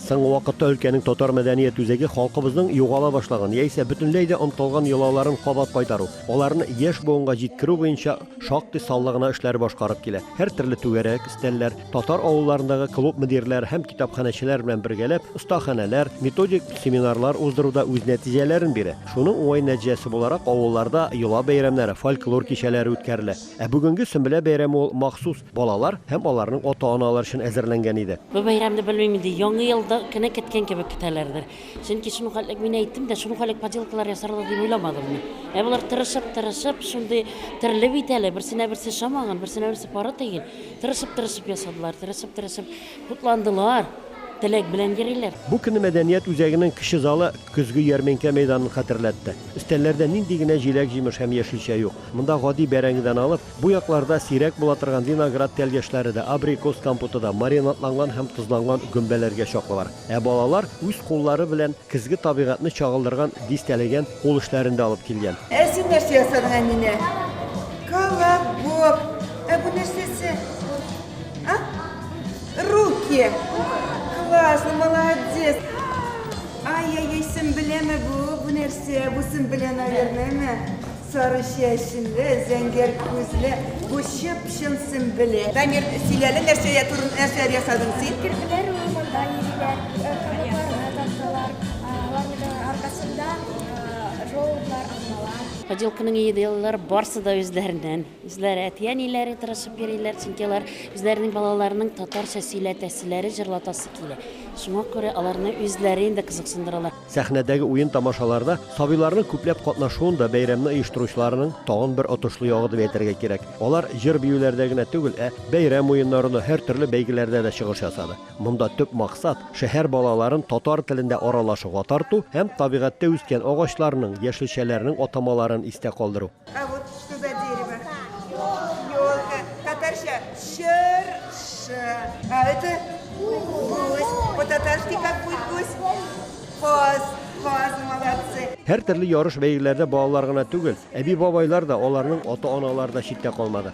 Соңгы вакытта өлкәнең татар мәдәният үзәге халкыбызның югала башлаган яисә бөтенләй дә онтылган йолаларын кабат кайтару, аларны яшь буынга җиткерү буенча шактый саллы гына эшләр башкарып килә. Һәртөрле түгәрәк, өстәлләр, татар авылларындагы клуб мөдирләре һәм китапханәчеләр белән бергәләп остаханәләр, методик семинарлар уздыру да үз нәтиҗәләрен бирә. Шуның уңай нәтиҗәсе буларак авылларда йола бәйрәмнәре, фольклор кичәләре үткәрелә. Ә бүгенге Сөмбелә бәйрәме ул махсус Балалар һәм аларның ата-аналары өчен әзерләнгән иде. Бу бәйрәмне белмим инде, Яңа елда кенә көткән кебек көтәләрдер. Чөнки шундук элек мин әйттем дә, шундук элек поделкалар ясарлар дип уйламадым мин. Ә болар тырышып, тырышып, шундый төрле бит әле, берсенә берсе шамаган, берсенә берсе пары тигән. Тырышып, тырышып ясадылар, тырышып, тырышып кутландылар, теләк белән йөриләр. Бу көнне мәдәният үзәгенең кече залы көзге ярминкә мәйданын хәтерләтте. Өстәлләрдә нинди генә җиләк-җимеш һәм яшелчә юк. Монда гади бәрәңгедән алып, Бу якларда сирәк була торган виноград тәлгәшләре дә, абрикос компоты да маринадланган һәм тозланган гөмбәләргә чаклы бар. Ә балалар үз куллары белән көзге табигатьне чагылдырган дистәләгән кул эшләрен дә алып килгән. Ә син нәрсә ясадың, Әминә? Колобок. Ә бу нәрсәсе? А? Рухи. Классно, молодец. Ай-яй-яй, Сөмбеләме бу? Бу нәрсә? Бу Сөмбелә, наверное, әмме? Сары чәчле, зәңгәр күзле, бу чып-чын Сөмбелә. Дамир, сөйлә әле, нәрсә турында нәрсәләр ясадың син? Керделәр ул монда нигезләр, кабыкларны таптылар, аларның аркасында желудьлар, алмалар. Поделканың идеяләре барсы да үзләреннән. Үзләре әти-әниләре тырышып йөриләр, чөнки алар үзләренең балаларының татарча сөйләтәселәре, җырлатасы килә. Шуңа күрә аларны үзләре инде кызыксындыралар. Сәхнәдәге уен-тамашаларда сабыйларның күпләп катнашуын да бәйрәмне оештыручыларның тагын бер отышлы ягы дип әйтергә кирәк. Алар җыр-биюләрдә генә түгел, ә бәйрәм уеннарында, һәртөрле бәйгеләрдә дә чыгыш ясады. Монда төп максат, шәһәр балаларын татар телендә аралашуга тарту һәм табигатьтә үскән агачларның, яшелчәләрнең атамаларын истә калдыру. А вот что за дерево? Елка. Татарща черша. А это гусь. По-татарски как будет гусь? Коз. Коз, молодцы. Һәр төрле ярыш бәйгеләрдә балалар гына түгел, әби-бабайлар да, аларның ата-аналары да читтә калмады.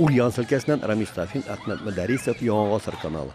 Ульяновск өлкәсеннән Рамис Сафин, Әхмәт Мөдәрисов, Яңа гасыр каналы.